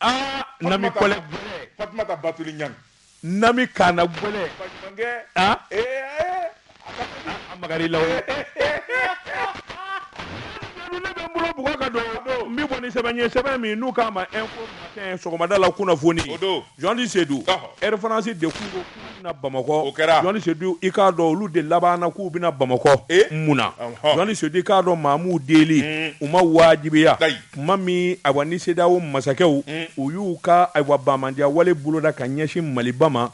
aa nami kɔlɛ gɛlɛ fatumata batuli ɲang nami kana gɛlɛ baɲumankɛ aa ee ee a magari la ne bɛ n bolo bugɔ ka don n bɛ bɔ ni sɛbɛn ye sɛbɛn min n'u k'a ma info matin sɔgɔmada la kunnafoni o don Jean Seydou Air France de kun Bamakɔ kɛra i k'a dɔn olu de labanna k'u bɛna bamakɔ mun na Seydou i k'a dɔn maa m'u deli u ma wajibiya tuma min ayiwa ni CEDEAO masakɛw u y'u ka ayiwa bamanandiya wale boloda ka ɲɛsin maliba ma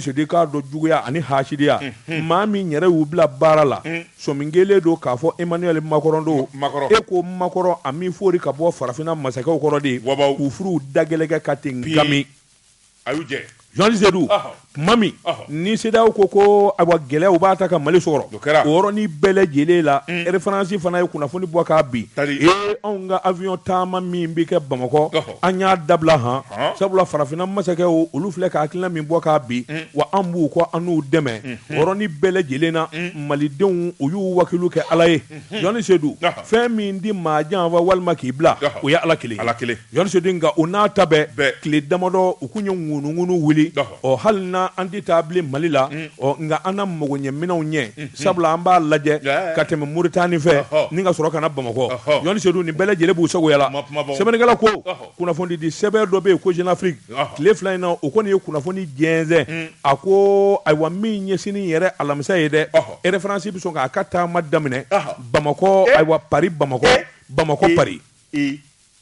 Seydou i k'a dɔn juguya ani hasidiya maa min yɛrɛ y'u bila baara la sɔmi kɛlen don k'a fɔ emmanuel macron don macron e ko macron a m'i fori ka bɔ farafinna masakɛw kɔrɔ de u furuw da gɛlɛn kɛ ka ten a y'u jɛ Jean Seydou tuma min ni CEDEAO ko ko ayiwa gɛlɛyaw b'a ta ka Mali sɔrɔ o kɛra o yɔrɔnin bɛɛ lajɛlen la Air France fana ye kunnafoni bɔ k'a bin ee anw ka avion taama min bɛ kɛ Bamakɔ an y'a dabila han sabula farafinna masakɛw olu filɛ ka hakilina min bɔ k'a bin wa an b'u kɔ an n'u dɛmɛ o yɔrɔnin bɛɛ lajɛlen na malidenw u y'u wakilu kɛ Ala ye Jean Seydou fɛn min tɛ maa janfa walima k'i bila o ye Ala kelen ye. Jean Seydou nka o n'a ta bɛɛ tile damadɔ u kun ye ŋunuŋunu wuli ɔ hali n'an tɛ taa bilen mali la ɔ nka an na mago ɲɛ minɛnw ɲɛ sabula an b'a lajɛ ka tɛmɛ moritani fɛ ni ka sɔrɔ ka na bamakɔ Seydou nin bɛɛ lajɛlen b'u sago la sɛbɛnnikɛla ko kunnafonidi sɛbɛn dɔ bɛ yen ko Jeune Afrique tile fila in na o kɔni ye kunnafoni jɛnsɛn a ko ayiwa min ɲɛ sini yɛrɛ alamisa ye dɛ Air France bɛ sɔn k'a ka taama daminɛ bamakɔ ayiwa Paris bamakɔ bamakɔ pa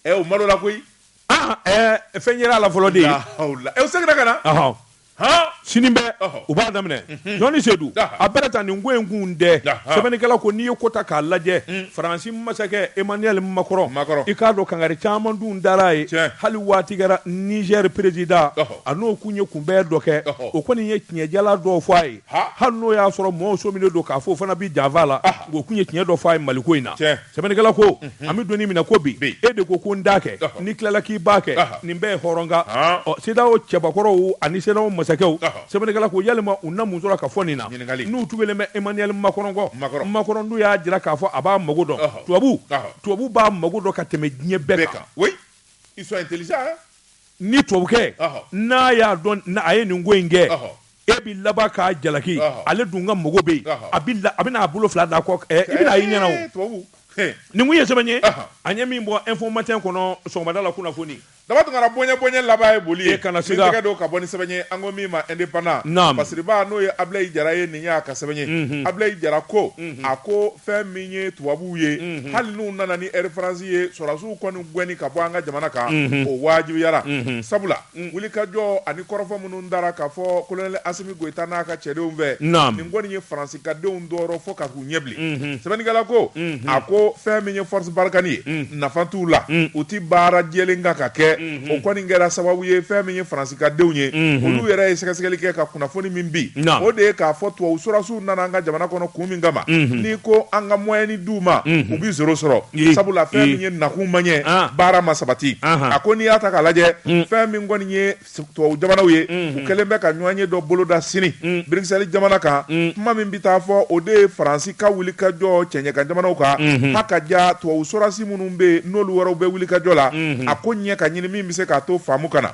ɛ o malola koyi ah, ɛ fɛn yɛrɛ la fɔlɔ de ye ɛ o seginna ka na han sini bɛ u b'a daminɛ mhm. Jean Seydou a bɛɛ ta nin ko in kun dɛ sɛbɛnnikɛla ko n'i ye ko ta k'a lajɛ mm. faransi masakɛ emmanuel macron i k'a dɔn kangari caman dun dara a ye hali waati kɛra nizɛri perezida a n'o kun ye kunbɛn dɔ kɛ o kɔni ye tiɲɛjala dɔw fɔ a ye hali n'o y'a sɔrɔ mɔɔw sɔminen don k'a fɔ o fana bi janfa la o kun ye tiɲɛ dɔ fɔ a ye maliko in na sɛbɛnnikɛla ko an bɛ doni minɛ ko bi e de ko ko n t'a kɛ n'i tilala k'i b'a kɛ nin bɛɛ ye hɔrɔnkan ɔ CEDEAO cɛbakɔrɔw ani CEDEAO masakɛw sɛbɛnnikɛla ko yalima u na mun sɔrɔ ka fɔ nin na n'u tugulen bɛ emmanuel macron kɔ macron dun y'a jira k'a fɔ a b'a mago dɔn tubabu tubabu b'a mago dɔn ka tɛmɛ diɲɛ bɛɛ kan ni tubabukɛ n'a y'a dɔn a ye nin ko in kɛ e bɛ laban k'a jalaki ale dun ka mɔgɔw bɛ yen a bɛna a bolo fila d'a kɔ i bɛna a y'i ɲɛna o nin kun ye sɛbɛn ye an ye min bɔ info matin kɔnɔ sɔgɔmada la kunnafoni daba tunkara bonya bonya laban ye boli ye ka na tɛgɛ don ka bɔ ni sɛbɛn ye an ko min ma indépendant masiriba n'o ye abilayi jara ye nin y'a ka sɛbɛn ye abilayi jara ko a ko fɛn min ye tubabuw ye hali n'u nana ni air france ye sɔrasiw kɔni gɛnni ka bɔ an ka jamana kan o wajibiyara sabula Wulikajɔ ani kɔrɔfɔ minnu dara k'a fɔ kolonɛli Asimi Goyita n'a ka cɛdenw fɛ, naamu, nin kɔni ye Faransi ka denw tɔɔrɔ fo ka k'u ɲɛ bilen. Unhun. Sɛbɛnnikɛla ko, unhun, a ko fɛn min ye Force Barkhane ye, un, nafa t'u la, un, u tɛ baara jɛlen kan ka kɛ, unhun, o kɔni kɛra sababu ye fɛn min ye Faransi ka denw ye, unhun, olu yɛrɛ ye sɛgɛsɛgɛli kɛ ka kunnafoni min bin, naamu, o de ye k'a fɔ tubabu sɔrasiw nana an ka jamana kɔnɔ kun min kama n'i ko an ka moyenne d'u ma u bɛ zéro sɔrɔ sabula fɛn min ye nakun ma ɲɛ baara ma sabati a ko n'i y'a ta ka lajɛ fɛn min kɔni ye tubabu jamanaw ye u kɛlen bɛ ka ɲɔgɔnye dɔ boloda sini bruxelles jamana kan kuma min bɛ taa fɔ o de ye faransi ka wulikajɔ cɛɲɛkan jamanaw kan ha ka ja tubabu sɔrasi minnu bɛ yen n'olu yɛrɛw bɛ wulikajɔ la a ko ɲɛ ka ɲini min bɛ se k'a to faamu ka na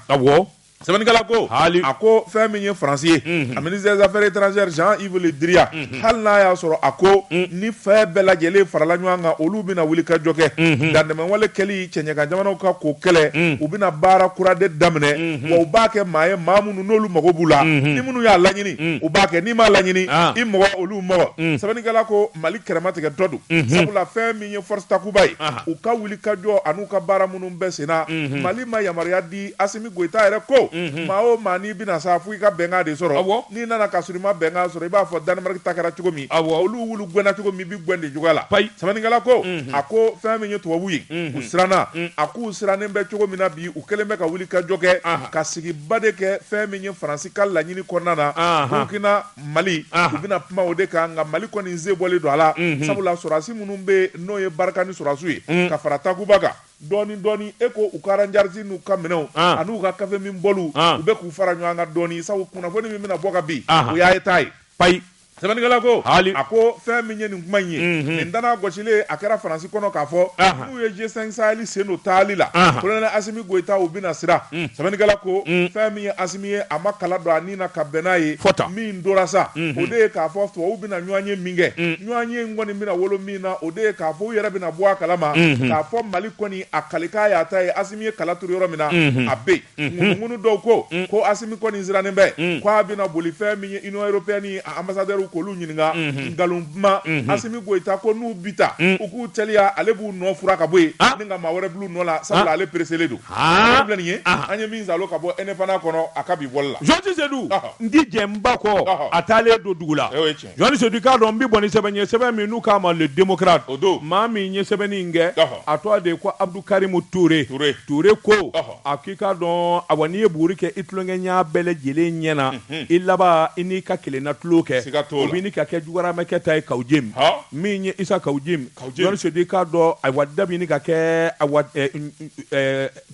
sɛbɛnnikɛla ko Hali- a ko fɛn min ye faransi ye a ministre des affaires étrangères jean yves le drian hali n'a y'a sɔrɔ a ko ni fɛn bɛɛ lajɛlen farala ɲɔgɔn kan olu bɛna wulikajɔ kɛ dantɛmɛwale kɛli cɛɲɛkan jamanaw kan k'o kɛlɛ u bɛna baara kura de daminɛ wa u b'a kɛ maa ye maa minnu n'olu mago b'u la ni minnu y'a laɲini u b'a kɛ n'i m'a laɲini Ah. i mɔgɔ olu mɔgɔ sɛbɛnnikɛla ko mali kɛrɛma tigɛ dɔ don sabula fɛn min ye force takuba ye Aha. u ka wulikajɔ an'u ka baara minnu bɛ senna mali ma yamaruya di Asimi Goyita yɛrɛ ko, unhun, maa o maa n'i bɛ na sa fo i ka bɛnkan de sɔrɔ, awɔ, n'i nana ka sɔrɔ i ma bɛnkan sɔrɔ i b'a fɔ Danemarki ta kɛra cogo min, awɔ, olu wulu gɛnna cogo min i bɛ gɛn ten cogoya la, payi, sɛbɛnnikɛla ko, unhun, a ko fɛn min ye tubabuw ye, unhun, u siranna, un, a k'u sirannen bɛ cogo min na bi u kɛlen bɛ ka wulikajɔ kɛ, anhan, ka sigiba de kɛ fɛn min ye Faransi ka laɲini kɔnɔna na, anhan, Burukina, Mali, anhan, u bɛna kuma o de kan nka Mali kɔni sen bɔlen don a la, unhun, sabula sɔrɔdasi minnu bɛ yen n'o ye Barikani sɔrɔdasiw ye, un, ka fara Takuba kan. Dɔɔni dɔɔni e ko u ka aranjarisi n'u ka minɛnw an'u ka kafeminbɔliw u bɛ k'u fara ɲɔan kan dɔɔni sabu kunnafoni min bɛna bɔ ka bin o y'a ye taa ye. Payi! Sɛbɛnnikɛla ko, Haali! A ko fɛn min ye nin kuma in ye, nin danaya gɔsilen a kɛra Faransi kɔnɔ k'a fɔ minnu ye G5 Sahɛli sen don taali la, Kolonɛli Asimi Goyita u bɛna siran. Sɛbɛnnikɛla ko, fɛn min ye Asimi ye a ma kala don a ni na ka bɛn n'a ye, min dɔnna sa o de ye k'a fɔ tubabuw bɛna ɲɔanye min kɛ, ɲɔanye in kɔni bɛna wolo min na, o de ye k'a fɔ u yɛrɛ bɛna bɔ a kala ma k'a fɔ mali kɔni a kalikan y'a ta ye asimi ye kala turu yɔrɔ min na a bɛ ŋunu dɔw ko ko asimi kɔni sirannen bɛ k' a bɛna boli fɛn min ye union européenne ambassadeurw k'olu ɲininka nkalon duman asimi goyita ko n'u bi taa u k'u teliya ale b'u nɔ fura ka bɔ yen ni ka maa wɛrɛ bil'u nɔ la sa ale pereselen don filɛ ye an ye min sɔrɔ ka bɔ e ne fana kɔnɔ a ka bi bɔli la jɔn sedu n di jɛ ba kɔ a taalen don dugu la Jɔn Sedu i k'a dɔn n bɛ bɔ ni sɛbɛn ye sɛbɛn min n'u k'a ma le démocrate o don maa min ye sɛbɛnni in kɛ a tɔgɔ de ye ko Abdou Karimu Toure Toure ko a k'i k'a dɔn awa n'i ye buguri kɛ i tulonkɛɲɔgɔn bɛɛ lajɛlen ɲɛ na i laban i n'i ka kelenna tulon kɛ siga t'o la o bɛ ɲini ka kɛ jugaramɛkɛ ta ye Kawujim min ye Issa Kawujim Jɔn Sedu i k'a dɔn awa da bɛ ɲini ka kɛ awa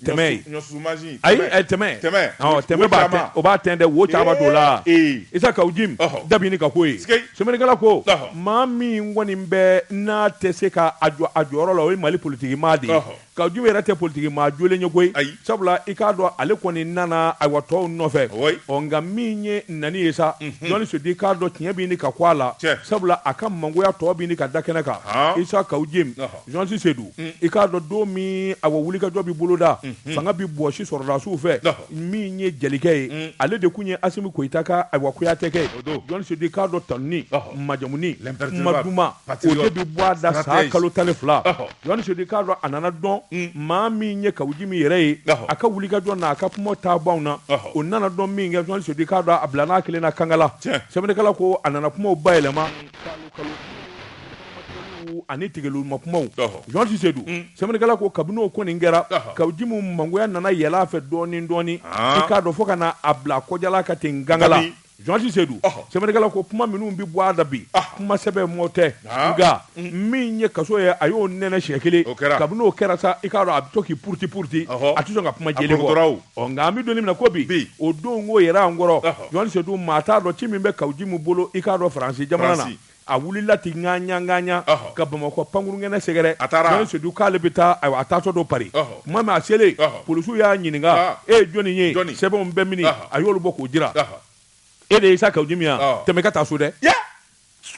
tɛmɛ ye ayi tɛmɛ tɛmɛ o b'a ten dɛ wo caman don la isa kawujim da bɛ ɲini ka k'o ye sɛbɛnnikɛla ko maa min kɔni bɛ n'a tɛ se k'a a jɔyɔrɔ la o ye mali politigi maa de ye kawujim yɛrɛ tɛ politigi maa jɔlen ye koyi ayi sabula i k'a dɔn ale kɔni nana awa tɔw nɔfɛ ɔ nka min ye nan ye sa jɔn sedu i k'a dɔn tiɲɛ bɛ ɲini ka ko a la sabula a ka mangoya tɔ bɛ ɲini ka da kɛnɛ kan isa kawujim Jɔn sedu i k'a dɔn don min a wulikajɔ bɛ boloda fanga bɛ bɔsi sɔrɔdasiw fɛ min ye jelikɛ ye ale de tun ye asimi goyita ka awa kuyatɛkɛ ye jɔn sedu k'a dɔn tanuni majamuni tun bɛ bɔ a da sa kalo tan ni fila jɔn sedu k'a dɔn a nana dɔn maa min ye kawujim yɛrɛ ye a ka wulikajɔ na a ka kuma taa ban na o nana dɔn min kɛ jɔn sedu k'a dɔn a bila n'a kelen na kangala sɛbɛnnikɛla ko a nana kuma bayɛlɛma ani tigɛ ma kumaw jɔn sedu sɛbɛnnikɛla ko kabini o kɔni kɛra kawujim mangoya nana yɛlɛn a fɛ dɔɔnin dɔɔnin i k'a dɔn fo ka na a bila kɔjala ka ten gangala jɔn sedu sɛbɛnnikɛla ko kuma minnu bɛ bɔ a da bi kuma sɛbɛma tɛ nka min ye kaso ye a y'o nɛnɛ siɲɛ kelen kabini o kɛra sa i k'a dɔn a bɛ to k'i puruti puruti a tɛ ka kuma nka an bɛ don min na ko bi o don' yɛrɛ an kɔrɔ jɔn sedu maa t'a dɔn ci min bɛ kawujim bolo i k'a dɔn faransi jamana na A wulila ten ŋaɲa ŋaɲa Ɔhɔ! ka Bamakɔ pankurunkɛnɛ sɛgɛrɛ. A taara! Jɔn Sedu k'ale bɛ taa, ayiwa, a taatɔ don Paris. Ɔhɔ! Tuma min a selen. Ɔhɔ! Polisiw y'a ɲininka, Aa! E ye jɔni ye? Jɔni? Sɛbɛnw bɛ mini? Ɔhɔ! A y'olu bɔ k'o jira. Ɔhɔ! E de ye Isa Kawujim ye wa? Ɔɔ! Tɛmɛ i ka taa so dɛ! Yɛ!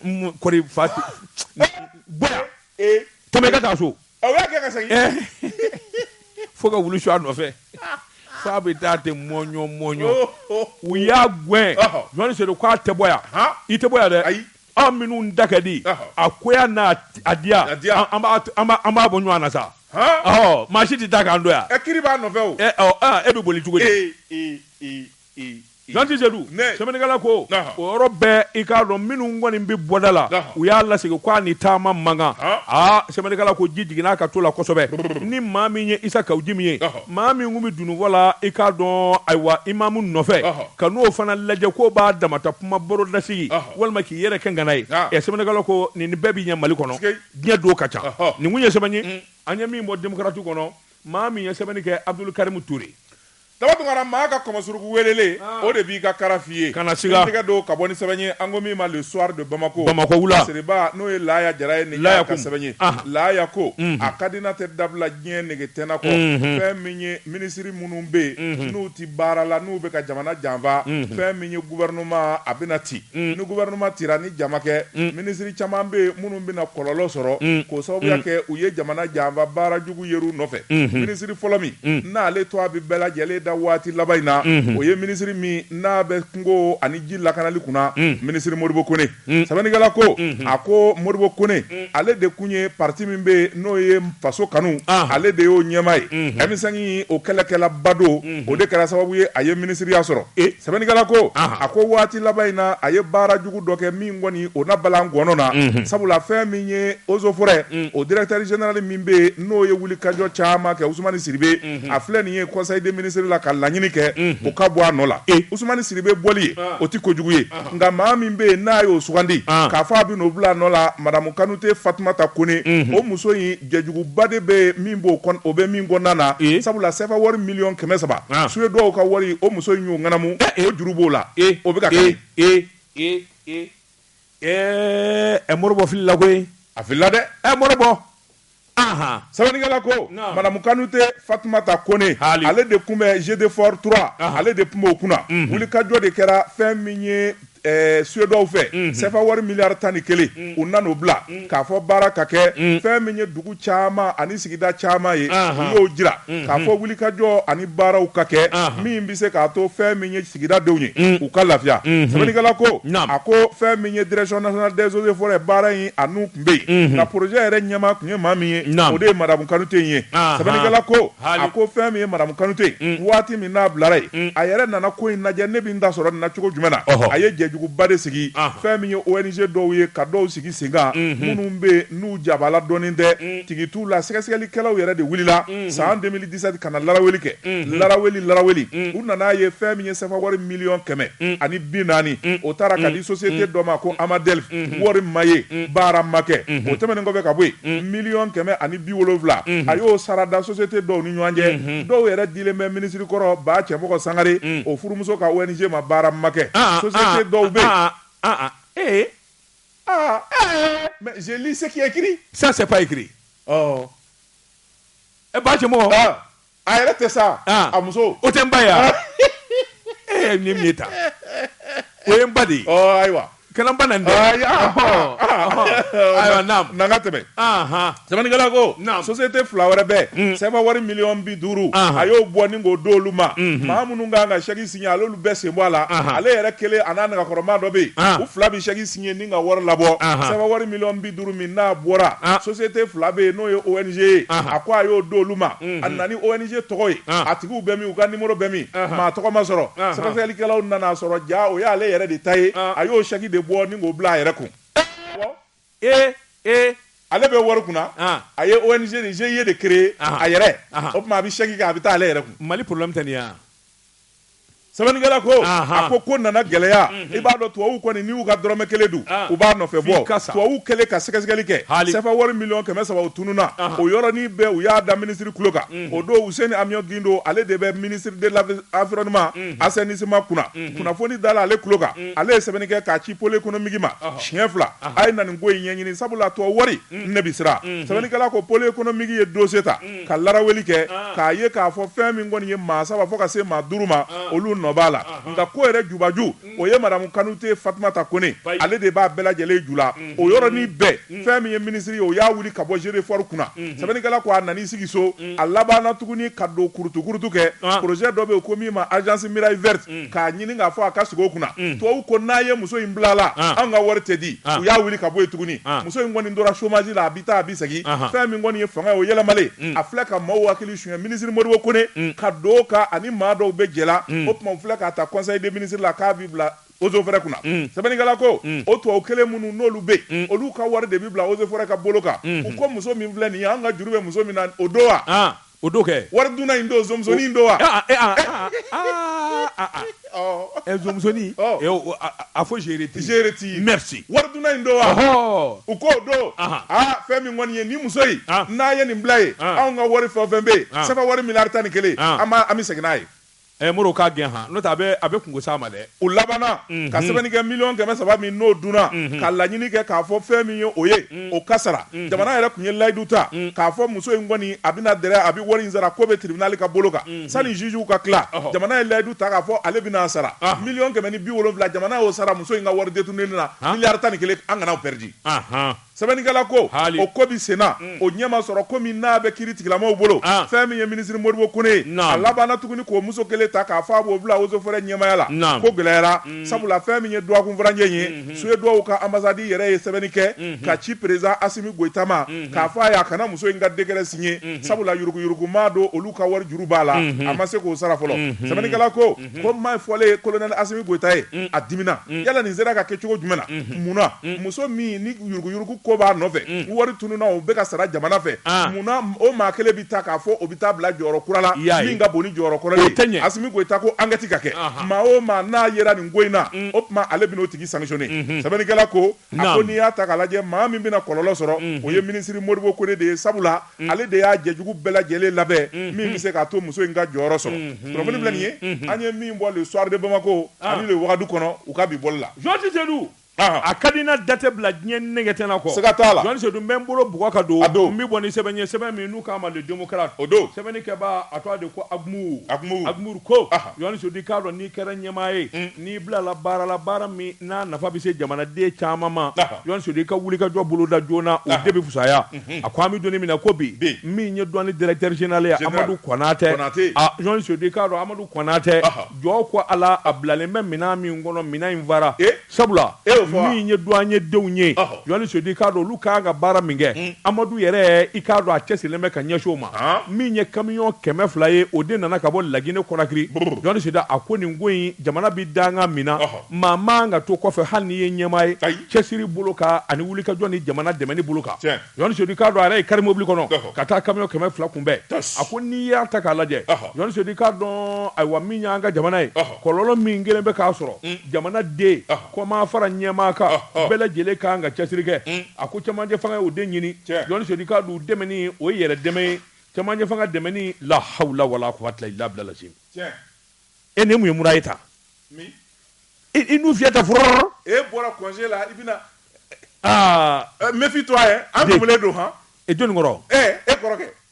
N kɔri fa tɛ. Bɔ yan! Ee! Tɛmɛ i ka taa so! Fo ka wulu su a nɔfɛ fo a bɛ taa ten mɔɲɔ mɔɲɔ u y'a gɛn jɔn sedu k'a tɛ bɔ yan i tɛ bɔ yan dɛ ayi aw minnu da ka di a goya n'a diya an b'a bɔ ɲɔgɔn na sa ɔ maa si tɛ taa k'an to yan e kiri b'a nɔfɛ e bɛ boli cogo Zanti Seyidu sɛbɛnnikɛla ko o yɔrɔ bɛɛ i k'a dɔn minnu kɔni bɛ bɔda la u y'a lasigi k'a ni taama mankan aa sɛbɛnnikɛla ko ji jigin'a ka to la kosɛbɛ ni maa min ye Isa Kawu Jim ye maa min tun bɛ dununfɔ la i k'a dɔn ayiwa imamu nɔfɛ ka n'o fana lajɛ ko b'a damata kuma baro lasigi walima k'i yɛrɛ kɛ ŋana ye ɛ sɛbɛnnikɛla ko nin bɛɛ bɛ ɲɛ mali kɔnɔ diɲɛ don ka ca nin tun ye sɛbɛn ye an ye min bɔ Démocrate kɔnɔ maa min ye sɛbɛnni kɛ abudul karimu ture Daba Tunkara, maa ka kɔmɔsuruku weelele, o de b'i ka kara f'i ye. Kana siga. K'i tɛgɛ don ka bɔ ni sɛbɛn ye, an ko min ma le soir de Bamako, Bamako wula, Seriba n'o ye Laaya Jara ye, nin y'a ka sɛbɛn ye. Laaya ko, a ka di n'a tɛ dabila diɲɛ nege tɛna kɔ, fɛn min ye minisiri minnu bɛ yen, n'u tɛ baara la, n'u bɛ ka jamana janfa, fɛn min ye gouvernement a bɛna ci. Ni gouvernement cira, ni ja ma kɛ, minisiri caman bɛ yen minnu bɛna kɔlɔlɔ sɔrɔ, k'o sababuya kɛ u ye jamana janfa baara jugu yer'u nɔfɛ minisiri fɔlɔ min n'ale tɔgɔ bɛ bɛɛ lajɛlen da waati laban in na o ye minisiri min n'a bɛ kungo ani ji lakanali kunna minisiri Modibo Kone sɛbɛnnikɛla ko a ko Modibo Kone ale de tun ye pati min bɛ n'o ye faso kanu ale de y'o ɲɛmaa ye M5 o kɛlɛkɛlaba don o de kɛra sababu ye a ye minisiriya sɔrɔ sɛbɛnnikɛla ko a ko waati laban in na a ye baara jugu dɔ kɛ min kɔni o na bala gɔnna sabula fɛn min ye Eaux et Forêts o directeur général min bɛ n'o ye wulikajɔ caman kɛ usumani sidibe a filɛ nin ye conseil des ministres la ka laɲini kɛ o ka bɔ a nɔ la usumani sidibe bɔli ye o tɛ kojugu ye nka maa min bɛ yen n'a y'o sugandi k'a fɔ a bɛ n'o bila a nɔ la madamu kanute fatumata kone o muso in jɛjuguba de bɛ min b'o o bɛ min kɔnɔna na sabula CFA wari miliyɔn kɛmɛ saba Suédois ka wari o muso in y'o ŋanamu o juru b'o la o bɛ Ɛɛ ɛ Modibo filila koyi a filila dɛ ɛ Modibo Anhan. Sɛbɛnnikɛla ko Naamu. Madamu Kanute Fatumata Kone, Haali. ale de tun bɛ GEDEFOR 3, Anhan. ale de tun b'o kunna. Unhun. Wulikajɔ de kɛra fɛn min ye ɛɛ Suédois fɛ, Unhun. CFA wari miliyari tan ni kelen, Un. u nan'o bila, Un. k'a fɔ baara ka kɛ, Un. fɛn min ye dugu caman ani sigida caman ye, Anhan. u y'o jira, Unhun. k'a fɔ wulikajɔ ani baaraw ka kɛ, Anhan. min bɛ se k'a to fɛn min ye sigida denw ye u ka lafiya sɛbɛnnikɛla ko a ko fɛn min ye direction nationale des eaux et forêts baara in a n'u tun bɛ yen nka projet yɛrɛ ɲɛmaa tun ye maa min ye o de ye madamu kanute in ye sɛbɛnnikɛla ko a ko fɛn min ye madamu kanute waati min n'a bilara yen a yɛrɛ nana ko in lajɛ ne bɛ n ta sɔrɔ nin na cogo jumɛn na a ye jɛjuguba de sigi fɛn min ye ONG dɔw ye ka dɔw sigi senkan minnu bɛ yen n'u jabaala dɔnnen tɛ tigi t'u la sɛgɛsɛgɛlikɛlaw yɛrɛ de wulila san 2010 Isad ka na laraweli kɛ, unhun, laraweli laraweli, un, u nana ye fɛn min ye CFA wari miliyɔn kɛmɛ un, ani bi naani, un, o taara ka di société dɔ ma ko Amadel, unhun, wari ma ye, un, baara ma kɛ, unhun, o tɛmɛnen kɔfɛ ka bɔ yen, un, miliyɔn kɛmɛ ani bi wolonfila, unhun, a y'o sara da société dɔw ni ɲɔgɔn cɛ, unhun, dɔw yɛrɛ dilen bɛ minisiri kɔrɔ Ba Cɛmɔgɔ Sangare, un, o furumuso ka ONG ma baara ma kɛ, aa, société dɔw bɛ yen, aa, aa, ee, aa, ee, mais je lis ce qui est écrit, ça c'est pas écrit, ɔɔ. E Ba Cɛmɔgɔ a yɛrɛ tɛ sa a muso o tɛ n ba ye e min min ta o ye n ba de ayiwa kɛlɛba na ayiwa tɛmɛ sɛbɛnnikɛla ko société fila wɛrɛ bɛ CFA wari miliyɔn bi duuru a y'o bɔ ni k'o d'olu ma maa minnu kan ka chèque signer al'olu bɛɛ sen bɔ a la ale yɛrɛ kelen a n'a nakɔrɔma dɔ bɛ yen u fila bɛ chèque signer ni ka wari labɔ CFA wari miliyɔn bi duuru min n'a bɔra ah. société fila bɛ yen n'o ye ONG ye a ko a y'o d'olu ma mm-hmm. a nana ni ONG tɔgɔ ye ah. a tigiw bɛ min u ka numéro bɛ min maa tɔgɔ ma sɔrɔ sɛgɛsɛgɛlikɛlaw nana sɔrɔ jaa o y'ale yɛrɛ de ta ye ah. a y'o chèque de bɔ ni k'o bila a yɛrɛ kun ee ee ale bɛ wari kunna a ye ONG ni GIE de créer a yɛrɛ o tuma a bɛ chèque kɛ a bɛ taa ale yɛrɛ kun Mali problème tɛ nin ye Sɛbɛnnikɛla ko a ko ko nana gɛlɛya i b'a dɔn tubabu kɔni n'u ka dɔrɔmɛ kelen don u b'a nɔfɛ bɔ tubabu kɛlen ka sɛgɛsɛgɛli kɛ sɛfa wari miliyɔn kɛmɛ saba tununna o yɔrɔnin bɛɛ u y'a da minisiri tulo kan o don Useni Amion Gindo ale de bɛ ministère de l'environnement assainissement kunna kunnafoni dala ale tulo kan ale ye sɛbɛn kɛ k'a ci pôle économique ma siɲɛ fila a ye na nin ko in ɲɛɲini sabula tubabu wari ne bɛ siran sɛbɛnnikɛla ko pôle économique ye dossier ta ka laraweli kɛ k'a ye k'a fɔ fɛn min kɔni ye maa saba fo ka se maa duuru ma olu nɔ b'a la nka ko yɛrɛ jubaju o ye Madame Kanute Fatumata Kone ale de b'a bɛɛ lajɛlen ju la o yɔrɔnin bɛɛ fɛn min ye minisiri ye o y'a wuli ka bɔ GEDEFOR kunna sɛbɛnnikɛla ko a nan'i sigi so a labanna tuguni ka don kurutukurutu kɛ projet dɔ bɛ yen ko min ma agence muraille verte mm. k'a ɲini k'a fɔ a ka sigi o kunna mm. tubabu ko n'a ye muso in bilala ah. an ka wari tɛ di ah. u y'a wuli ka bɔ yen tuguni ah. muso in kɔni tora chômage la a bi taa a bi segin fɛn min kɔni ye fanga ye o yɛlɛmalen mm. a filɛ ka maaw hakili suɲɛ minisiri Modibo Kone ka don ka ani maa dɔw bɛ jɛ la o tuma u filɛ k'a ta conseil des ministres la k'a bi bila Eaux et Forêts kunna mm. sɛbɛnnikɛla ko mm. o tubabu kelen minnu n'olu bɛ mm. olu ka wari de bi bila Eaux et Forêts ka bolo kan mm-hmm. u ko muso min filɛ nin ye an ka juru bɛ muso min na o don wa ah. O don kɛ wari dunna in don zonmusonin don wa zonmusonin a fɔ je retire je retire merci wari dunna in don wa u k'o don aa fɛn min kɔni ye nin muso in n'a ye nin bila ye anw ka wari fɛn o fɛn bɛ yen CFA wari miliyari tan ni kelen an bɛ segin n'a ye Ɛɛ Modibo k'a gɛn han, n'o tɛ a bɛ a bɛ kunko s'a ma dɛ. U labanna ka sɛbɛnni kɛ miliyɔn kɛmɛ saba min n'o dunna, ka laɲini kɛ k'a fɔ fɛn min ye o ye, o ka sara. Jamana yɛrɛ tun ye layidu ta k'a fɔ muso in kɔni a bɛna dɛrɛ, a bɛ wari in sara, ko bɛ tiribinali ka bolo kan. Sani ziziw ka tila, jamana ye layidu ta k'a fɔ ale bɛna a sara. Miliyɔn kɛmɛ ni bi wolonwula jamana y'o sara muso in ka wari detourner ni na, miliyari tan ni kelen, an kana o perdre. Sɛbɛnnikɛla ko Haali. o ko bɛ senna, o ɲɛ ma sɔrɔ ko min n'a bɛ kiiri tigilamaw bolo, An. fɛn min ye minisiri Modibo Kone ye, Naamu. a labanna tuguni k'o muso kelen ta k'a fɔ a b'o bila eaux et forêts ɲɛmaaya la, Naamu. ko gɛlɛyara, sabula fɛn min ye duwakunfuranjɛ in ye, Suweduwaw ka anbasadi yɛrɛ ye sɛbɛnni kɛ ka ci peresidan Asimi Goyita ma k'a fɔ a ye a kana muso in ka dekɛrɛ siɲe, sabula yuruguyurugu maa don olu ka wari juru b'a la, a ma se k'o sara fɔlɔ. Sɛbɛnnikɛla ko kuma in fɔlen kolonɛli Asimi Goyita ye a dimina yala nin sera ka kɛ cogo jumɛn na munna muso min ni yuruguyurugu ko b'a nɔfɛ wari tununna o bɛ ka sara jamana fɛ munna o maa kelen bɛ ta k'a fɔ o bɛ taa bila jɔyɔrɔ kura la min ka bon ni jɔyɔrɔ kɔrɔ ye Asimi Goyita ko ankɛti ka kɛ maa o maa n'a yera nin ko in na o tuma ale bɛn'o tigi sanctionner sɛbɛnnikɛla ko a ko n'i y'a ta k'a lajɛ maa min bɛna kɔlɔlɔ sɔrɔ o ye minisiri Modibo Kone de ye sabula ale de y'a jɛjugu bɛɛ lajɛlen labɛn min bɛ se k'a to muso in ka jɔyɔrɔ sɔrɔ kunnafoni filɛ nin ye an ye min bɔ Le Soir de Bamako ani Le Wagadu kɔnɔ u ka bi bɔli la Jeli Sedu a ka di na datɛ bila diɲɛ nege tɛna kɔ siga t'a la Jeli Sedu n bɛ n bolo bugɔ ka don n bɛ bɔ ni sɛbɛn ye sɛbɛn min n'u k'a ma Le Démocrate o don sɛbɛnnikɛbaa a tɔgɔ de ko Agumuru ko Jeli Sedu i k'a dɔn n'i kɛra ɲɛmaa ye N'i bilala baara la baara min n'a nafa bɛ se jamanaden caman ma Jeli Sedu i ka wulikajɔ boloda joona o de bɛ fisaya a ko an bɛ don min na ko bi min ye duwani directeur général ye Amadu Konate Jeli Sedu i k'a dɔn Amadu Konate jɔ ko ala a bilalen bɛ minɛn min kɔnɔ minɛn in fara sabula min ye duwanye denw ye Jeli Sedu i k'a dɔn olu ka kan ka baara min kɛ, un, Amadu yɛrɛ i k'a dɔn a cɛsirilen bɛ ka ɲɛsin o ma, haa, min ye kamiyɔn kɛmɛ fila ye o de nana ka bɔ Lagine Kɔnakiri, brrr, Jeli Sedu a ko nin ko in jamana bɛ dankan min na, ɔhɔ, maa man kan ka to kɔfɛ hali n'i ye ɲɛmaa ye, ayi, cɛsiri bolo kan ani wulikajɔ ni jamana dɛmɛni bolo kan, tiɲɛ, Jeli Sedu i k'a dɔn a yɛrɛ y'i kari mobili kɔnɔ, ɔhɔ, ka taa kamiyɔn kɛmɛ fila kunbɛn, tas, a ko n'i y'a ta k'a lajɛ, ɔhɔ, Jeli Sedu i k'a dɔn ayiwa min y'an ka jamana ye, ɔhɔ, kɔlɔlɔ min kɛlen bɛ k'a sɔrɔ, un, jamana den, ɔhɔ. Kɔma fara ɲɛmaa kan bɛɛ lajɛlen ka kan ka cɛsiri kɛ a ko cɛmancɛ fanga ye o de ɲini Jeli Sedu i k'a dɔn dɛmɛni o ye yɛrɛ dɛmɛ ye cɛmancɛ fanga dɛmɛni la hawula wala quwwata illa billah lasi e ni mun ye mura ye taa i nun fiyɛ ta fɔrɔ e bɔra kɔnse la i bɛna aa méfie-toi an bɛ don hɔn e jɔnni kɔrɔ e kɔrɔkɛ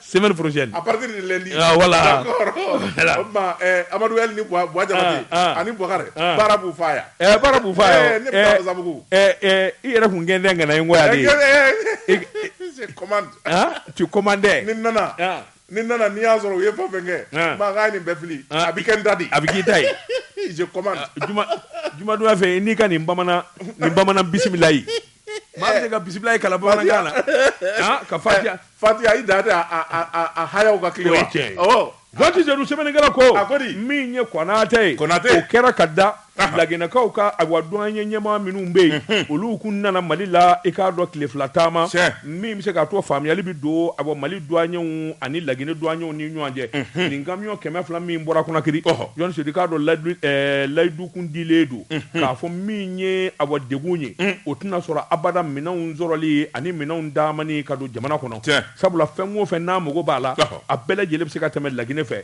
semaine prochaine à partir de lundi ah, voilà d'accord ma eh Amadou El ni Bwa Bwa Jabate ah, ah. ani Bwakare ah. baara b'u fa yan eh baara b'u fa yan eh, ne bɛ eh, Zabugu eh eh i yɛrɛ kun gɛn dɛn kana ngo ya de eh, je commande hein tu commandais ni nana ni nana n'i y'a sɔrɔ u ye fɛn fɛn kɛ n b'a k'a ye nin bɛɛ fili a bɛ kɛ n ta de a bɛ k'i ta ye je commande juma jumadonya fɛ n'i ka nin bamanan nin bamanan bisimilayi maa bɛ se ka bisimilayi kalan bamanankan na ah, ka fatiya fatiya i da tɛ a hayaw ka kile wa awɔ Jɔni Sedu sɛbɛnnikɛla ko a ko di min ye Konate ye Konate o kɛra ka da Laginɛkaw ka awa duwanye ɲɛmaa minnu bɛ yen mhm. olu kun nana Mali la i k'a dɔn tile fila taama min bɛ se k'a to faamuyali bɛ don awa Mali duwanyew ani Laginɛ duwanyew ni ɲɔgɔn cɛ mhm. nin kamiyɔn kɛmɛ fila min bɔra Konakiri Jɔni Sedu i k'a dɔn layidu kun dilen don k'a fɔ min ye awa dɛgun ye o tɛna sɔrɔ abada minɛnw sɔrɔli ani minɛnw damani ka don jamana kɔnɔ sabula fɛn o fɛ n'a mago b'a la a bɛɛ lajɛlen bɛ se ka tɛmɛ laginɛ fɛ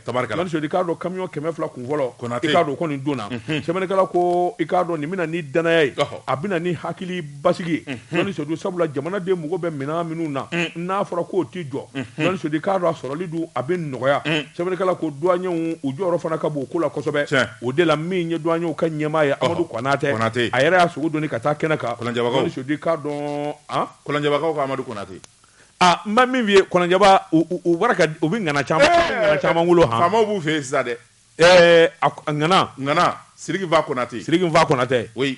i k'a dɔn kamiyɔn kɛmɛ fila kun fɔlɔ i k'a dɔn kɔni donna sɛbɛnnikɛla ko i k'a dɔn nin bɛna ni danaya ye a bɛna ni hakili basigi ye jɔni sedu sabula jamanaden mago bɛ minɛn minnu na n'a fɔra k'o tɛ jɔ jɔni sedu i k'a dɔn a sɔrɔli dun a bɛ nɔgɔya sɛbɛnnikɛla ko duwanyew u jɔyɔrɔ fana ka bon o ko la kosɛbɛ o de la min ye duwanyew ka ɲɛmaa ye amadu kɔnatɛ a yɛrɛ y'a sogo doni ka taa kɛnɛ kan jɔni sedu i k'a dɔn kɔlɔnjɛbakaw ka amadu kɔnatɛ aa n bɛ min f'i ye kɔlɔnjɛba u bɔra ka u bɛ ŋana caman ŋana caman wolo han faamaw b'u fɛ yen sisan dɛ ɛɛ a ŋana ŋana siriki nfa kɔnatɛ siriki nfa kɔnatɛ oui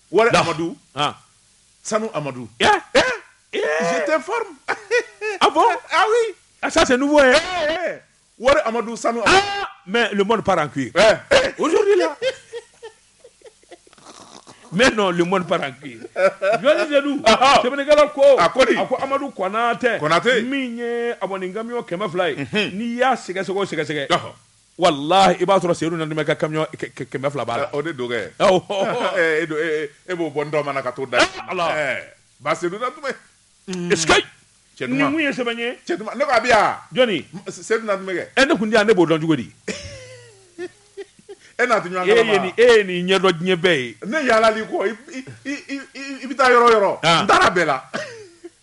wari amadu sanu amadu tɛ farin a bɔ ayi a sa tɛ numu ye wari amadu sanu mɛ lm pa koyi o la mɛ nɔn lm pa koyi jɔnkɛla ko a ko a ko amadu kɔnɔnatɛtɛ min ye a kɔni kami kɛmɛ fila ye n'i y'a sɛgɛsɛ sɛgɛsɛgɛ walayi i b'a sɔrɔ sedu nantumɛ ka kamiyɔn kɛmɛ fila b'a la o de don kɛ e b'o bɔ dɔn mana ka to da ba sedu nantumɛ ye sɛbɛn e ne tun tɛ yan ne b'o dɔn cogo di e n'a e ye nin ɲɛdɔn diɲɛ bɛɛ ye ne yaalala ko i bɛ taa yɔrɔ yɔrɔ n taara bɛɛ la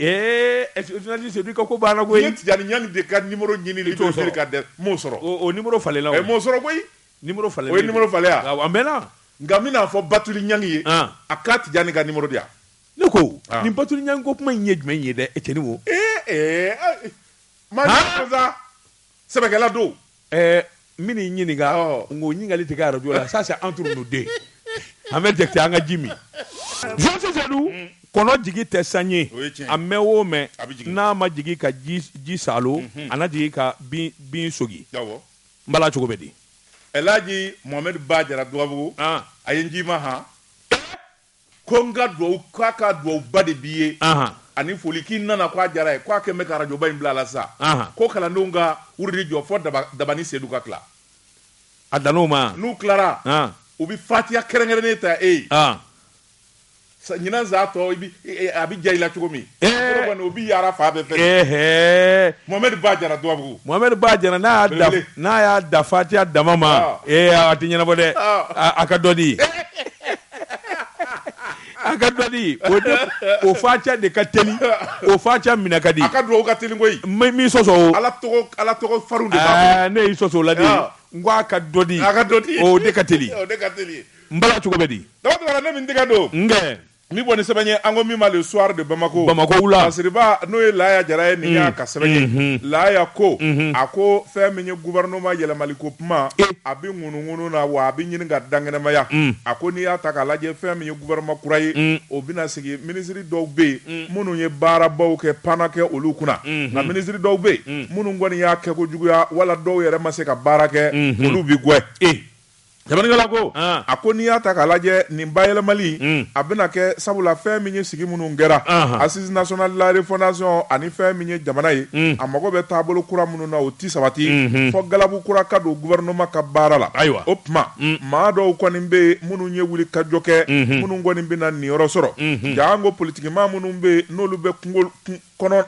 Jɔni sedu i ka ko banna koyi n ye tijani ɲani de ka nimuru ɲini i t'o sɔrɔ ka dɛ m'o sɔrɔ o nimuru falenna o m'o sɔrɔ koyi nimuru falen o ye nimuru falenya a mɛnna nka n bɛna a fɔ batuli ɲani ye a ka tijani ka nimuru di yan ne ko nin batuli ɲani ko kuma in ye jumɛn ye dɛ e cɛni wo ee ee ma Sɛbɛkɛla don ɛɛ n bɛna i ɲininka nka o ɲininkali tɛ kɛ arajo la ça c'est entre nous deux an bɛ jɛkite an ka ji min Jɔsi Jadu mm. kɔnɔ jigi tɛ san ye a mɛn o mɛn n'a ma jigi ka ji saalo mhm. a na jigi ka bin sogi n bala cogo bɛ di Elhaji Mohamed Ba Jara Dugabugu ah. a ye n ci i ma han ko n ka duwawu k'a ka duwawuba de b'i ye ani foli k'i nana k'a diyara a ye k'a kɛn bɛ ka arajoba in bila a la sisan ko kalandenw ka wurudi jɔ fɔ Daba ni Sedu ka tila a dan'o ma wa n'u tilara u bɛ fatiya kɛrɛnkɛrɛnnen ta e ye ɲinan san tɔ a bɛ diya i la cogo min kɔni o bɛ yaara fan bɛɛ fɛ Mohamɛdi Ba Jara Dugabugu Mohamɛdi Ba Jara n'a y'a n'a y'a da fatiya dama ma ee a tɛ ɲɛnabɔ dɛ a ka dɔ di. A ka dɔ di o de o fatiya de ka teli o fatiya minɛ ka di a ka dugawu ka teli koyi ma min sɔsɔ ala ala tɔgɔ farin de b'a ne y'i sɔsɔ o la dɛ n ko a ka dɔ di a ka dɔ di o de ka teli o de ka teli n bala cogo bɛ di Daba ne bɛ n tɛgɛ don n ka nin bɔ nin sɛbɛn ye an ko min ma Le Soir de Bamakɔ Bamakɔ la masiriba n'o ye Laya Jara ye nin y'a ka sɛbɛn ye Laya ko a ko fɛn min ye gouvernement yɛlɛma ko kuma a ŋunu na wa a bɛ ɲini ka dankɛnɛmaya mm. a ko n'i y'a ta k'a lajɛ fɛn min ye gouvernement kura ye mm. o bɛna sigi minisiri dɔw bɛ yen mm. minnu ye baarabaw kɛ pan na kɛ olu kunna mm-hmm. nka minisiri dɔw bɛ yen minnu kɔni y'a kɛ ko juguya wala dɔw yɛrɛ ma se ka baara kɛ mm-hmm. olu bɛ gɛn eh. jamanigala ko ah. a ko n'i y'a ta k'a lajɛ nin bayɛlɛmali a bɛna kɛ sabula fɛn min ye sigi minnu kɛra assises nationales de la refondation ani fɛn min ye jamana ye a mago bɛ taabolo kura minnu o tɛ sabati fɔ galabu kura ka don gouvernement ka baara la ayiwa o tuma maa dɔw kɔni bɛ yen minnu ye wuli ka jɔ kɛ minnu kɔni bɛna niyɔrɔ sɔrɔ jaa an ko politigimaa minnu bɛ yen n'olu bɛ kɔnɔ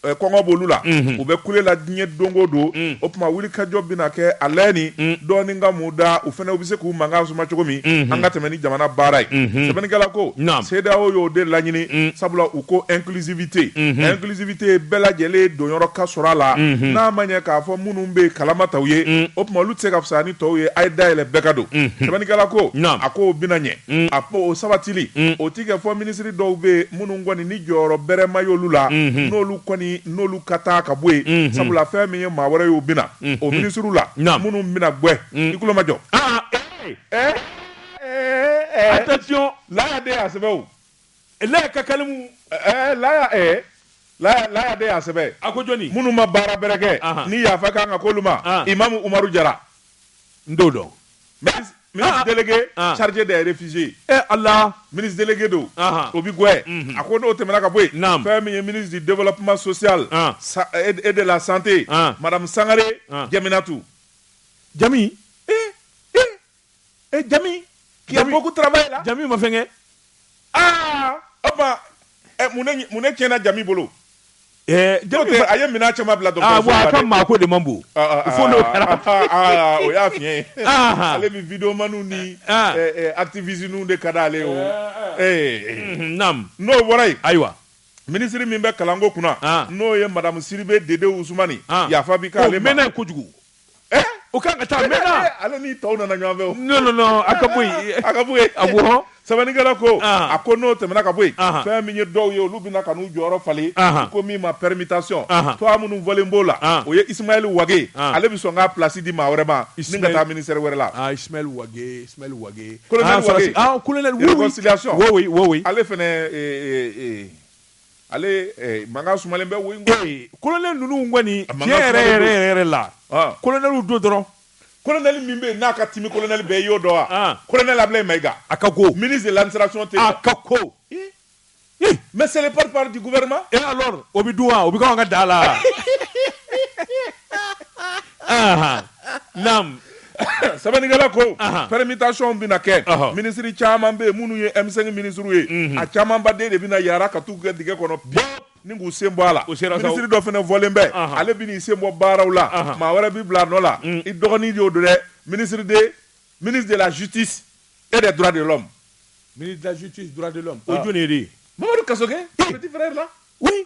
kɔngɔ b'olu la u bɛ kule la diɲɛ don o don o tuma wuli ka jɔ bɛna kɛ hali ni dɔɔnin ka mun u da u fana u bɛ se k'u mankan suma cogo min an ka tɛmɛ ni jamana baara ye sɛbɛnnikɛla ko CEDEAO y'o de laɲini sabula u ko inclusivité inclusivité bɛɛ lajɛlen donyɔrɔ ka sɔrɔ a la n'a ma ɲɛ k'a fɔ minnu bɛ yen kalama taw ye o tuma olu tɛ se ka fisa ni tɔw ye a ye dayɛlɛ bɛɛ ka don sɛbɛnnikɛla ko a ko o bɛna ɲɛ a ko o sabatili o tɛ kɛ fɔ minisiri dɔw bɛ yen minnu kɔni ni jɔyɔrɔ bɛrɛ ma y'olu la n'olu kɔni n'olu ka taa ka bɔ yen sabula fɛn min ye maa wɛrɛ y'o bɛna o minisiriw la minnu bɛna gɛn i tulo majɔ ɛɛ attention Laya de y'a sɛbɛn o la ka kalimu ɛɛ laya ɛɛ laya laya de y'a sɛbɛn a ko jɔni minnu ma baara bɛrɛ kɛ Ahan. ni yafa kan ka k'olu ma Ah. imamu umaru jara n t'o dɔn ministre ministre délégué Ah. chargé des réfugiés ɛ ala ministre délégué don Ahan. o bi gwɛn Mhm. a ko n'o tɛmɛna ka bɔ yen Naam. fɛn min ye ministre du développement social Ah. sa- et et de la santé Ah. madame sangare Ah. jaminatu jami e jami qui a beaucoup travaillé là jami ma fɛnkɛ aa o tuma ɛ mun ne mun ne tiɲɛna jami bolo eh, jami tɛ a ye minɛn caman bila dɔgɔtɔrɔso ah, la dɛ a ka maako de man bon ah, ah, fo n'o kɛra o y'a fiɲɛ ye ale bɛ videomaniw ni eh, eh, activisiniw de ka d'ale ye o mhm, naam n'o bɔra yen ayiwa minisiri min bɛ kalanko kunna n'o ye madamu sidibe dede usumani yafa bi k'ale ma o mɛnna kojugu eh? o kan ka taa mɛnna eh, ale ni tɔw nana ɲɔgɔn fɛ o non non non a ka bɔ yen a ka bɔ yen a bɔ sɛbɛnnikɛla ko ah. a ko n'o tɛmɛna ka bɔ yen ah. fɛn min ye dɔw ye olu bɛna ka n'u jɔyɔrɔ falen ah. ko min ma permutation tɔgɔ minnu fɔlen b'o la o ye Ismaël Wage ale bɛ sɔn k'a place di maa wɛrɛ ma ni ka taa ministère wɛrɛ la ah Ismaël Wage Ismaël Wage colonel Wage ah colonel oui oui réconciliation oui oui oui ale fana ee ee Ale eh, mankan sumalen bɛ wo in kɔ. Ee kolonɛli ninnu kɔni A mankan tiɲɛ yɛrɛ sumalen yɛrɛ don. yɛrɛ yɛrɛ la Ah. kolonɛliw don dɔrɔn Kolonɛli min bɛ yen n'a ka timi kolonɛli bɛɛ i y'o dɔn wa? Ah. Kolonɛli Abilaye Mayiga. A ka go. Ministre de l'administration tɛ yen. A ka ko. Ee. Ee. Mais c'est le porte-parole du gouvernement. Et alors o bɛ dun wa? O bɛ k'anw ka daa la wa? Anhan. naamu sɛbɛnnikɛla ko permutation bɛna kɛ minisiri caman bɛ yen minnu ye M5 minisiriw ye mhm. a camanba de bɛna yaala ka t'u kɛ dingɛ kɔnɔ ni k'u sen bɔ a la minisiri dɔ fana fɔlen bɛ ale bɛn'i sen bɔ baaraw la maa wɛrɛ b'i bila a nɔ la mm. i dɔgɔnin de y'o don dɛ minisiri de ministre de la justice et des droits de l'homme ministre de la justice droits de l'homme o ah. jɔni de ye Mamadu Kasoge petit frère là oui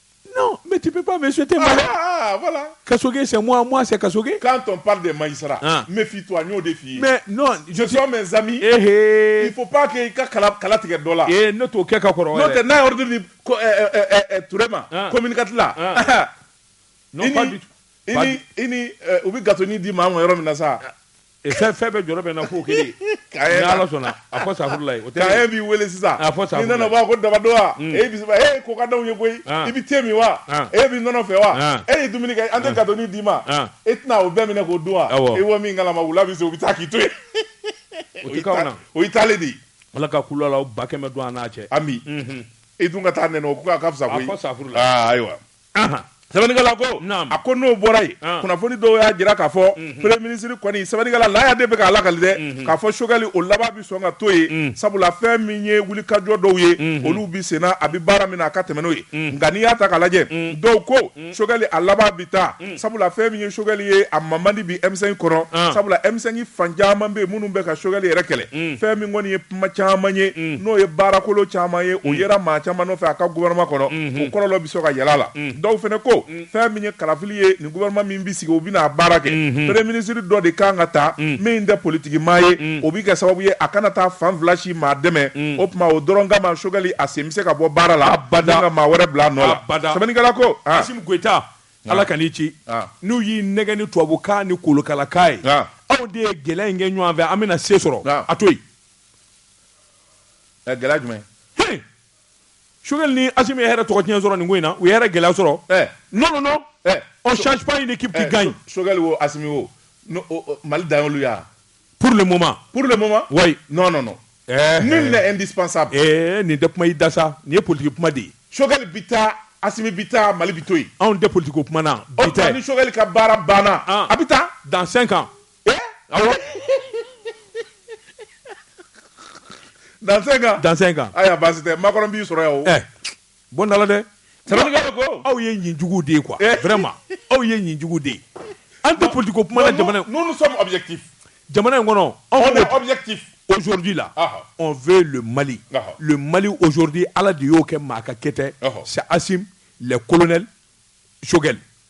Non, mais tu peux pas me souhaiter mal. Ah, ah, ah voilà. Kasoge, c'est moi, moi, c'est Kasoge. Quand on parle de Maïsra, ah. méfie-toi, nous défi. Mais non, je suis mes amis. Eh, eh. Il faut pas que ka kala kala tigɛ dɔ la. Eh, ne t'o kɛ ka kɔrɔ. N'o tɛ n'a ye ordre di ko eh, eh, eh, eh, eh Turema, ah. communicate la. Ah. non, pas du tout. Ini, ini, euh, u bɛ gatoni di maa ma yɔrɔ min na sa. Fɛn fɛn bɛ jɔ bɛ na fo kelen ala sɔnna a fɔ sala o b'i weele sisan a fɔ sa nana ko dabadɔn mm. e bisimila e ko ka da ye koyi ah. i bɛ te min wa ah. e bɛ nɔnɔ fɛ wa ah. e ye dumuni kɛ an tɛ gatonin d'i ma e tɛna o bɛɛ minɛ k'o dun wa e wa min kala ma wula bɛ se u bɛ taa k'i to yen o taalen de ala ka ku la ba kɛmɛ don an n'a cɛ ami mhm. e dun ka taa n' ka fisa sa ayiwa Sɛbɛnnikɛla ko a ko n'o bɔra yen kunnafoni dɔw y'a jira k'a fɔ mhm. premier ministre kɔni sɛbɛnnikɛla laya de bɛ k'a lakali dɛ mhm. k'a fɔ Choguel o laban bɛ sɔn ka to yen mhm. sabula fɛn min ye wulikajɔ dɔw ye olu bɛ senna a bɛ baara min na a ka tɛmɛ n'o ye nka n'i y'a ta k'a lajɛ dɔw ko Choguel a laban bɛ taa Sabula fɛn min ye Choguel ye a ma man di bi M5 kɔnɔ sabula M5 fan caman bɛ minnu bɛ ka Choguel yɛrɛ kɛlɛ fɛn min kɔni ye kuma caman ye n'o ye baarakolo caman ye o yera maa caman fɛ a ka gouvernement kɔnɔ o kɔlɔlɔ bɛ se ka yɛlɛ a la dɔw fana ko fɛn min ye kalafili ye ni gouvernement min bɛ sigi o bɛna baara kɛ premier ministre dɔ de kan ka ta min tɛ politigi maa ye o bɛ kɛ sababu ye a kana taa fan fila si maa dɛmɛ o tuma o dɔrɔn kama Choguel a sen bɛ se ka bɔ baara la ka maa wɛrɛ bila a nɔ la ko ala ka n'i ci n'u y'i nɛgɛn ni tubabukan ni kolokalakan ye aw de ye gɛlɛya in kɛ ɲɔgɔn fɛ an bɛna se sɔrɔ a to yen gɛlɛya jumɛn Choguel ni Assimi ye hɛrɛ tɔgɔ tiɲɛ sɔrɔ nin ko in na u ye hɛrɛ gɛlɛya sɔrɔ non non non on change pas une équipe qui gagne Choguel wo Assimi wo Mali dan y'olu ya pour le moment pour le moment oui non non non eh, nul eh. n'est indispensable eh nin tɛ kuma i da sa nin ye politique kuma de ye Choguel bi taa Assimi bi taa Mali bi to yen anw tɛ politique ko kuma na bi dɛ ni Choguel ka baara banna ah. a bi taa dans 5 ans eh awɔ ah dans 5 ans dans 5 ans aya baasi tɛ Macron b'i sɔrɔ yan o eh Bon dala dɛ aw ye nin jugu de ye kuwa ma aw ye nin jugu de ye an tɛ pdi ko kuma jamana in jamana in kɔnɔ awdi la fɛ mali mali ozodi ala de y'o kɛ maa ka kɛtɛ se asi lɛkolonɛ sokɛkɛ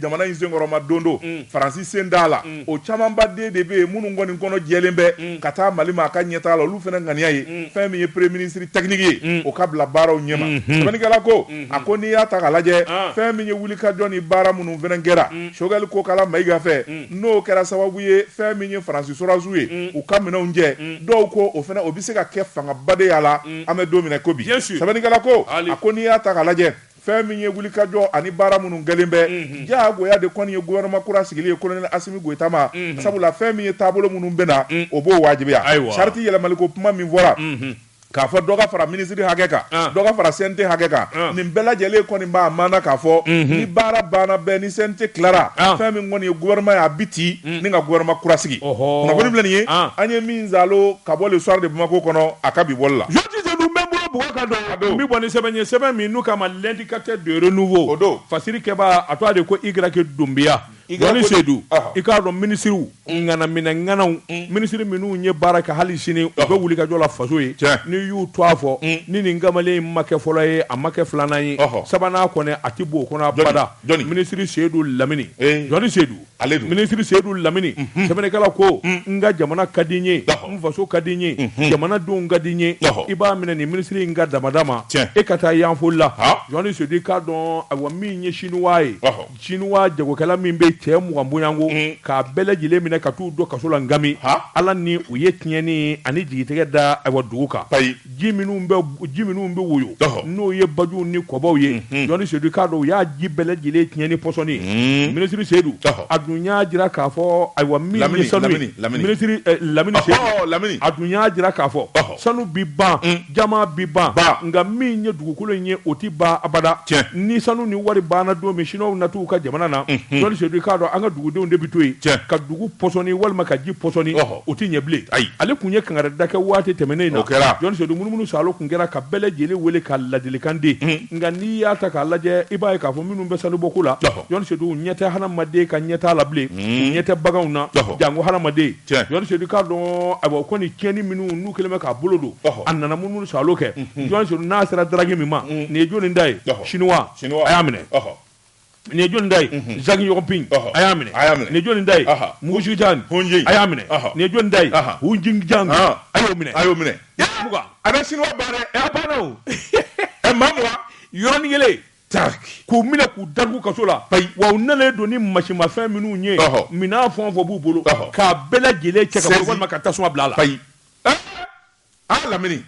jamana in senkɔrɔma don do mm. faransi sen d'a la mm. o camanba de bɛ yen minnu kɔni kɔnɔ jɛlen bɛ mm. ka taa mali ma a ka ɲɛtaa la olu fana ŋaniya ye mm. fɛn min ye premier ministre technique ye mm. o ka bila baaraw ɲɛma mm -hmm. sɛbɛnnikɛla ko mm -hmm. a ko n'i y'a ta k'a lajɛ ah. fɛn min ye wulikajɔ ni baara minnu fana kɛra mm. Choguel Kokalla Maïga fɛ mm. n'o kɛra sababu ye fɛn min ye faransi sɔrɔdasiw ye mm. u ka minɛnw cɛ mm. dɔw ko o fana o bɛ se ka kɛ fangaba de y'a la mm. an bɛ don min na ko bi sɛbɛnnikɛla ko a ko n'i y'a ta k'a lajɛ Fɛn min ye wulikajɔ ani baara minnu kɛlen bɛ diyagoya de kɔni ye gouvernement kura sigili ye colonel Assimi Goita ma sabula fɛn min ye taabolo minnu bɛ na o b'o wajibiya charte yɛlɛmaliko kuma min fɔra k'a fɔ dɔ ka fara minisiri hakɛ kan dɔ ka fara CNT hakɛ kan nin bɛɛ lajɛlen kɔni b'a maana k'a fɔ ni baara banna bɛɛ ni CNT tilara fɛn min kɔni ye gouvernement ye a bɛ ci ni ka gouvernement kura sigi kunnafoni filɛ nin ye an ye min zaalo ka bɔ le soir de Bamako kɔnɔ a ka bi bɔli la. n bɛ bɔ ni sɛbɛn ye sɛbɛn min n'u k'a ma l'Indicateur du Renouveau o don fasirikɛbaa tɔgɔ de ko Y Doumbia Jɔni Seydou i k'a dɔn minisiriw ŋanaminɛŋanaw minisiri minnu ye baara kɛ hali sini u bɛ wulikajɔ la faso ye n'i y'u tɔgɔ fɔ ni nin kamalen in ma kɛ fɔlɔ ye a ma kɛ filanan ye sabanan kɔni a tɛ bɔ o kɔnɔ abada minisiri Seydou Lamine Jɔni Seydou Ale don. Minisiri Seyidu Lamini, unhun, sɛbɛnnikɛla ko, un, n ka jamana ka di n ye, ɔhɔ, n faso ka di n ye, unhun, jamanadenw ka di n ye, ɔhɔ, i b'a minɛ nin minisiri in ka damada ma, tiɲɛ, e ka taa Yanfolila, han, Jɔni Seyidu i k'a dɔn ayiwa min ye Siniwa ye, ɔhɔ, Siniwa jagokɛla min bɛ yen cɛ mugan bɔɲɔgɔnko, un, k'a bɛɛ lajɛlen minɛ ka t'u don kaso la Ngami, han, Ala ni u ye tiɲɛni ani jigitɛgɛ da ayiwa dugu kan, payi. ji minnu bɛ woyo n'o ye baju ni kɔbaw ye jɔni seyidu i k'a dɔn u y'a ji bɛɛ lajɛlen tiɲɛ ni pɔsɔni minisiri seyidu a dun y'a jira k'a fɔ ayiwa lamini lamini a dun y'a jira k'a fɔ sanu bɛ ban jama bɛ ban nka min ye dugukolo in ye o tɛ ban abada cɛ ni sanu ni wari banna don min siniwaw na t'u ka jamana na jɔni seyidu i k'a dɔn an ka dugudenw de bɛ to yen cɛ ka dugu pɔsɔni walima ka ji pɔsɔni O tɛ ɲɛ bilen ayi ale tun ye kankarida kɛ waati tɛmɛnen na jɔni seyidu munumunu saalo tun kɛra ka bɛɛ lajɛlen wele ka ladilikan di nka n'i y'a ta k'a lajɛ i b'a ye k'a fɔ minnu bɛ sanubɔko la jɔni seyidu ɲɛ tɛ hadamaden ka ɲɛ t'a la bilen ɲɛ tɛ baganw na jango hadamaden jɔni seyidu k'a dɔn awa o kɔni tiɲɛni minnu n'u kɛlen bɛ k'a bolo don a nana munumunu saalo kɛ jɔni seyidu n'a sera daragi min ma nin ye jɔnni ta ye siniwa a y'a minɛ Nin ye jɔnni ta ye zaki yɔgɔpin a y'a minɛ a y'a minɛ nin jɔnni ta ye mugusujan a y'a minɛ nin ye jɔnni ta ye hjan a y'o minɛ a y'o minɛ a bɛ siniwa baara a banna o maa mugan yɔrɔnin kelen ta k'u minɛ k'u datugu kaso la wa u nalen don ni masimafɛn minnu ye minɛn fɛn o fɛn b'u bolo k'a bɛɛ lajɛlen cɛ walima ka tasuma bila a la ayi aa lamini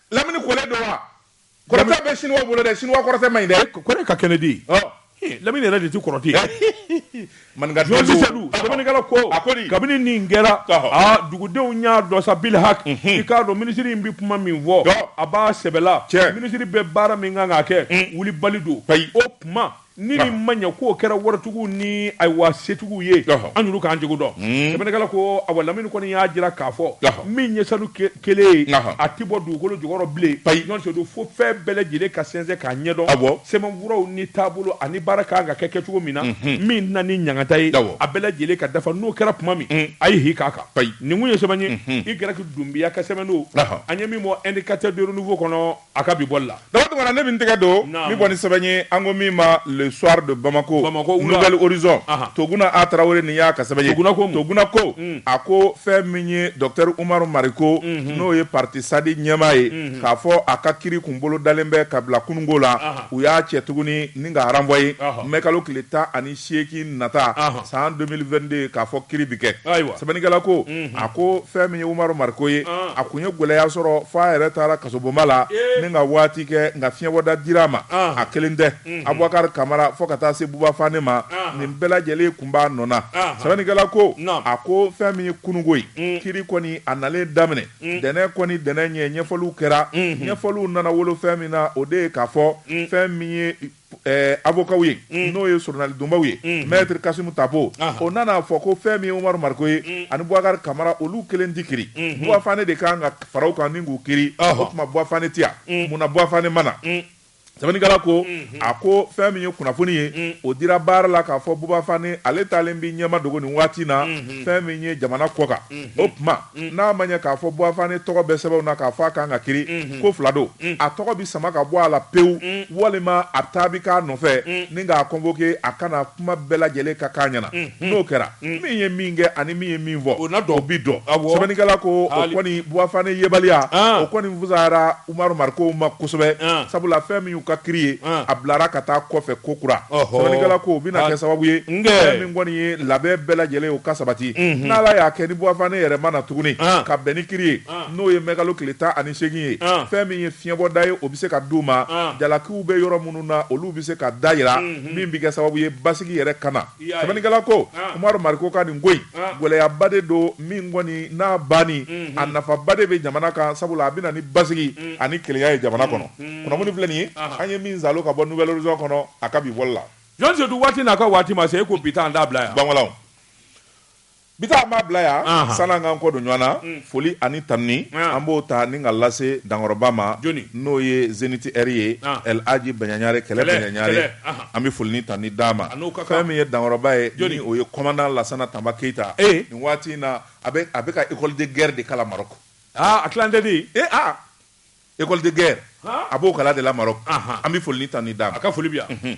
lamini kɛlɛ don wa Kɔrɔtɛ bɛ Chinois bolo dɛ, Chinois kɔrɔtɛ man ɲi dɛ. Kɔrɔtɛ ka kɛnɛ de. Ɔɔ. He, Lamini yɛrɛ de tɛ kɔrɔtɛ ye. Maninka Dɔnni. Jɔni Seyidu, Sɛbɛnnikɛla ko. A ko di? Kabini nin kɛra. Ɔhɔ. Aa dugudenw y'a dɔn sa bil haki. Unhun. I k'a dɔn minisiri in bɛ kuma min fɔ. Ɔɔ. A b'a sɛbɛ la. Tiɲɛ. Minisiri bɛ baara min kan k'a kɛ. Un. Wulibali don. Ayi. O tuma. Ni nin ma ɲɛ k'o kɛra waritigiw ni ayiwa setigiw ye Ɔhɔ. an y'olu ka jogo dɔn sɛbɛnnikɛla ko awa lamini kɔni y'a jira k'a fɔ Ɔhɔ. min ye sanu ke- kelen ye Ɔhɔ. a tɛ bɔ dugukolo jukɔrɔ bilen Ayi. jɔni seyidu fo fɛn bɛɛ lajɛlen ka sɛnsɛn k'a ɲɛdɔn Awɔ. sɛbɛnfuraw ni taabolo ani baara ka kan ka kɛ kɛcogo min na min na ni ɲangata ye Awɔ. a bɛɛ lajɛlen ka dafa n'o kɛra tuma min a ye hi k'a kan Ayi. nin kun ye sɛbɛn ye i gɛrɛki dunbiya ka sɛbɛn don Ɔhɔ. an ye min bɔ indicateur de renouveau kɔnɔ A ka bi bɔli la. Dawu Tunkara ne bɛ n tɛgɛ don min bɔ ni sɛbɛn ye an ko min ma le soir de Bamako, Bamako wula, Nouvel Horizon, anhan, Toguna A Tarawele nin y'a ka sɛbɛn ye, Toguna ko mun? Toguna ko, un, a ko fɛn min ye Docteur Umaru Mariko, unhun, n'o ye parti SADI ɲɛmaa ye, unhun, k'a fɔ a ka kiri kun bolodalen bɛ ka bila kununko la, anhan, u y'a cɛ tuguni ni k'a renvoyer, ɔhɔ, mɛkalo tile tan ani seegin nata san 2022 k'a fɔ kiri bɛ kɛ sɛbɛnnikɛla ko a ko fɛn min ye Umaru Mariko ye a tun ye gɛlɛya sɔrɔ f'a yɛrɛ taara kasobonba la ni ka waati kɛ nka fiɲɛbɔda dir'a ma a kelen tɛ Abubakari Kamara fo ka taa se Buba Fane ma nin bɛɛ lajɛlen tun b'a nɔ na sɛbɛnnikɛla ko a ko fɛn min ye kununko ye kiri kɔni a nalen daminɛ ntɛnɛn kɔni ntɛnɛn ɲɛ ɲɛfɔliw kɛra ɲɛfɔliw nana wolo fɛn min na o de ye k'a fɔ fɛn min ye Eh, avocaw ye mm. n'o ye soronalidonbaw ye mm. maitre kasimu tapo o nana a fɔ ko fɛn min ye umaru mariko ye mm. ani bubakari kamara olu kelen ti kiri mm-hmm. buba fane de kan ka fara u kan ni k'u kiri o tuma buba fane ti yan munna buba fane ma na sɛbɛnnikɛla ko mm-hmm. a ko fɛn min ye kunnafoni ye mm. o dira baara la k'a fɔ buba fane ale taalen b'i ɲɛmadogo nin waati na mm-hmm. fɛn min ye jamana kɔkan o tuma N'a ma ɲɛ k'a fɔ Buba Fane tɔgɔ bɛ sɛbɛnw na k'a fɔ a ka kan ka kiri, ko fila don, a tɔgɔ bɛ sama ka bɔ a la pewu walima a taa bɛ k'a nɔfɛ ni k'a convoquer a ka na kuma bɛɛ lajɛlen ka k'a ɲɛna. N'o kɛra, min ye min kɛ ani min ye min fɔ, o bɛ dɔn. Sɛbɛnnikɛla ko o kɔni Buba Fane yebaliya, o kɔni fusayara. Umaru Marikow ma kosɛbɛ, an, sabula fɛn min y'u ka kiri ye, an, a bilara ka taa kɔfɛ kokura, ɔhɔ, sɛbɛnnikɛla ko o bɛna kɛ sababu ye, nge, fɛn min kɔni ye labɛn bɛɛ lajɛlen ye o ka sabati, unhun, n'Ala y'a kɛ ni Buba Fane yɛrɛ ma na tuguni, an, ka bɛn ni kiri ye, an, n'o ye mɛkalo tile tan ani seegin ye, an, fɛn min ye fiɲɛbɔda ye o bɛ se ka di u ma, an, jalakiw bɛ yɔrɔ minnu na olu bɛ se ka da jira, unhun, min bɛ kɛ sababu ye basigi yɛrɛ ka na. Sɛbɛnnikɛla ko Umaru Mariko ka nin ko in gɛlɛyaba de don min kɔni n'a banni a nafaba de bɛ jamana kan sabula a bɛ na ni basigi ani kelenya ye jamana kɔnɔ kunnafoni filɛ nin ye an ye min saalo ka bɔ Nouvel Horizon kɔnɔ a ka bi bɔli la. Jɔn Seyidu waati n'a ka waati ma se e ko bi ta an t'a bila yan. Banwalaw. Bi ta an b'a bila yan Anhan sani an k'an kɔ don ɲɔgɔn na un foli ani tanuni an an b'o ta ni ka lase dankɔrɔba ma jɔni n'o ye zenith heure ye an El Hadji Baɲaɲare kɛlɛ kɛlɛ Baɲaɲare kɛlɛ anhan an bɛ foli ni tanuni d'a ma a n'o ka kan fɛn min ye dankɔrɔba ye jɔni ni o ye commandant Lassana Tamba Keyita ee nin waati in na a bɛ a bɛ ka école de guerre de kalan Maroc aa a tilancɛ tɛ yen ee aa école de guerre han a b'o kalan de la Maroc anhan an bɛ foli ni tanuni d'a ma a ka foli bɛ yan unhun.